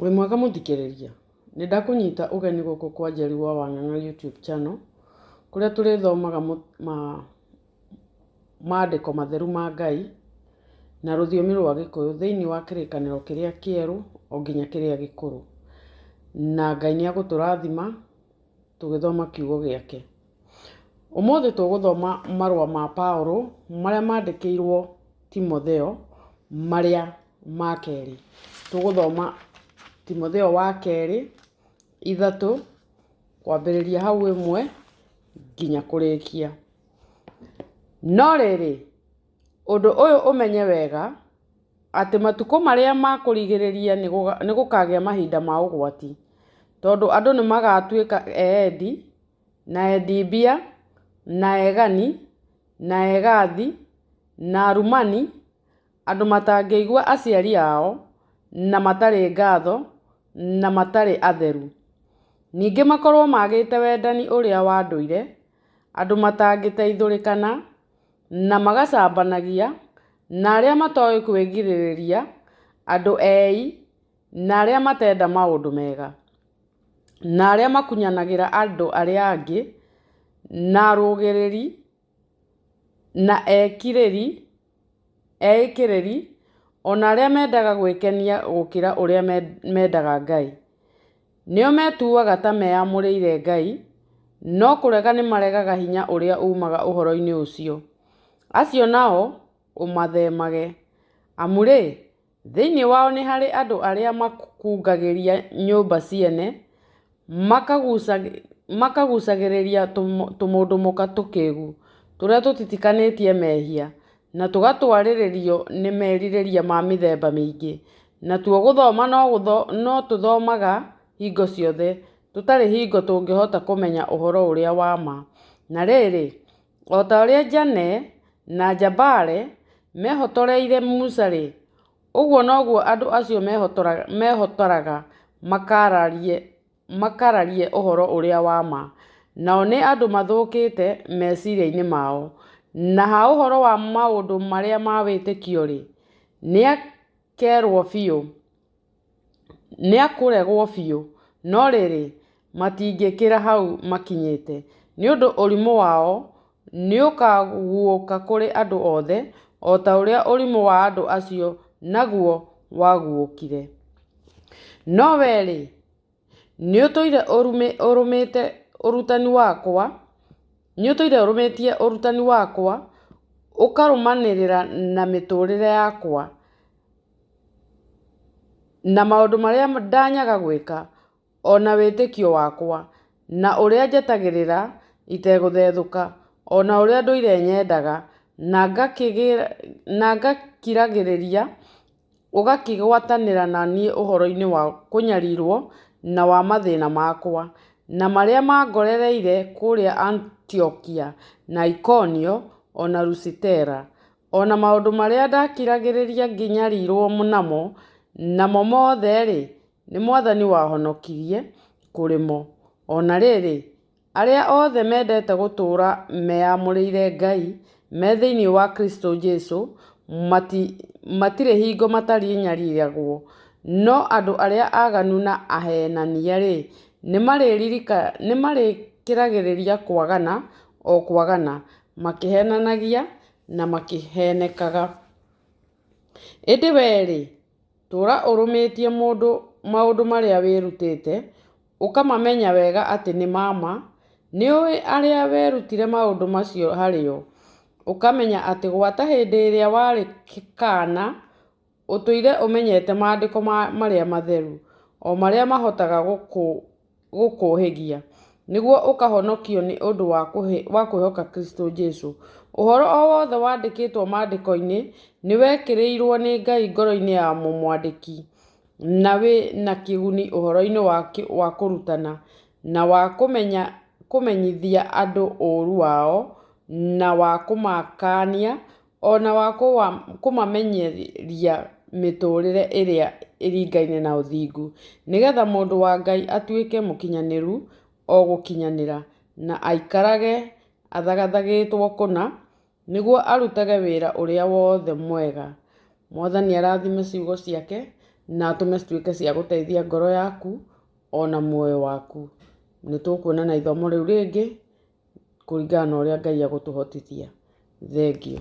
Wĩ mwega mũthikĩrĩria? Nĩ ndakũnyita ũgeni gũkũ kwa Njeri wa Wang'ang'a YouTube channel, kũrĩa tũrĩthomaga mandĩko matheru ma Ngai na rũthiomi rwa Gĩkũyũ thĩinĩ wa kĩrĩkanĩro kĩrĩa kĩerũ o nginya kĩrĩa gĩkũrũ. Na Ngai nĩ egũtũrathima. Tũgĩthoma Kiugo gĩake. Ũmũthĩ tũgũthoma marũa ma Paulo marĩa maandĩkĩirũo Timotheo marĩa ma kerĩ. Tũgũthoma Timotheo wa kerĩ ithatũ kwambĩrĩria hau ĩmwe nginya kũrĩkia. No rĩrĩ, ũndũ ũyũ ũmenye wega, atĩ matukũ marĩa ma kũrigĩrĩria nĩ gũkagĩa mahinda ma ũgwati, tondũ andũ nĩ magatuĩka eendi, na endi mbia, na egani, na egathi, na arumani, andũ matangĩigua aciari ao, na matarĩ ngatho, na matarĩ atheru. Ningĩ makorwo maagĩte wendani ũrĩa wa ndũire, andũ matangĩteithũrĩkana. na magacambanagia, na arĩa matoĩ kwĩgirĩrĩria, andũ eei, na arĩa matenda maũndũ mega, na arĩa makunyanagĩra andũ arĩa angĩ, na arũgĩrĩri, na ekirĩri, eĩkĩrĩri, o na arĩa mendaga gwĩkenia gũkĩra ũrĩa mendaga Ngai. Nĩo metuaga ta meyamũrĩire Ngai, no kũrega nĩ maregaga hinya ũrĩa uumaga ũhoro-inĩ ũcio. Acio nao ũmathemage, amu-rĩ, thĩinĩ wao nĩ harĩ andũ arĩa makungagĩria nyũmba ciene, makagucagĩrĩria tũmũndũ mũka tũkĩgu, tũrĩa tũtitikanĩtie mehia. na tũgatwarĩrĩrio nĩ merirĩria ma mĩthemba mĩingĩ. Natuo gũthoma no tũthomaga hingo ciothe, tũtarĩ hingo tũngĩhota kũmenya ũhoro ũrĩa wa ma. Na rĩrĩ, o ta ũrĩa Janne na Jambare meehotoreire Musa-rĩ, ũguo noguo andũ acio meehotoraga makaararie makararie ũhoro ũrĩa wa ma. Nao nĩ andũ mathũkĩte meciria-inĩ mao. Na ha ũhoro wa maũndũ marĩa ma wĩtĩkio-rĩ, nĩakerwo biũ, nĩakũregwo biũ, no rĩrĩ, matingĩkĩra hau makinyĩte, nĩ ũndũ ũrimũ wao. nĩũkaguũka kũrĩ andũ othe, o ta ũrĩa ũrimũ wa andũ acio naguo waguũkire. No wee-rĩ, nĩũtũire ũrũmĩte ũrutani wakwa, nĩũtũire ũrũmĩtie ũrutani wakwa, ũkarũmanĩrĩra na mĩtũrĩre yakwa, na maũndũ marĩa ndanyaga gwĩka, O na wĩtĩkio wakwa. Na ũrĩa njetagĩrĩra itegũthethũka. O na ũrĩa ndũire nyendaga. Na ngakiragĩrĩria ũgakĩgwatanĩra na niĩ ũhoro-inĩ wa kũnyarirwo na wa mathĩna makwa. Na marĩa mangorereire kũrĩa Antiokia, na Ikonio, o na Lusitera. O na maũndũ marĩa ndakiragĩrĩria ngĩnyarirwo namo, namo mothe-rĩ, Nĩ Mwathani wahonokirie kũrĩmo. O na rĩrĩ, arĩa othe mendete gũtũũra meyamũrĩire Ngai me thĩinĩ wa Kristo Jesu matirĩ hingo matarĩnyariiragwo. No andũ arĩa aganu na aheenania-rĩ, nĩ marĩkĩragĩrĩria kwagana o kwagana, makĩheenanagia na makĩheenekaga. Ĩndĩ wee-rĩ, Tũũra ũrũmĩtie mũndũ maũndũ marĩa wĩrutĩte, ũkamamenya wega atĩ nĩ ma ma. Nĩ ũĩ arĩa werutire maũndũ macio harĩ o, ũkamenya atĩ gwata hĩndĩ ĩrĩa warĩ kaana, ũtũire ũmenyete maandĩko marĩa matheru, o marĩa mahotaga gũkũũria. gũkũũhĩgia, nĩguo ũkahonokio nĩ ũndũ wa kwĩhoka Kristo Jesu. Ũhoro o wothe wandĩkĩtwo Maandĩko-inĩ nĩ wekĩrirũo nĩ Ngai ngoro-inĩ ya mũmwandĩki, na wĩ na kĩguni ũhoro-inĩ wa kũrutana, na wa kũmenyithia andũ ũũru wao, na wa kũmakaania o na wa kũmamenyeria mĩtũũrĩre ĩrĩa ĩringaine na ũthingu, nĩ getha mũndũ wa Ngai atuĩke mũkinyanĩru o gũkinyanĩra, na aikarage athagathagĩtwo kũna, nĩguo arutage wĩra ũrĩa wothe mwega. Mwathani arathime ciugo ciake na atũme cituĩke cia gũteithia ngoro yaku o na muoyo waku. Nĩ tũkuonana ithomo rĩu rĩngĩ. kũringana na ũrĩa Ngai agũtũhotithia. Thengiũ.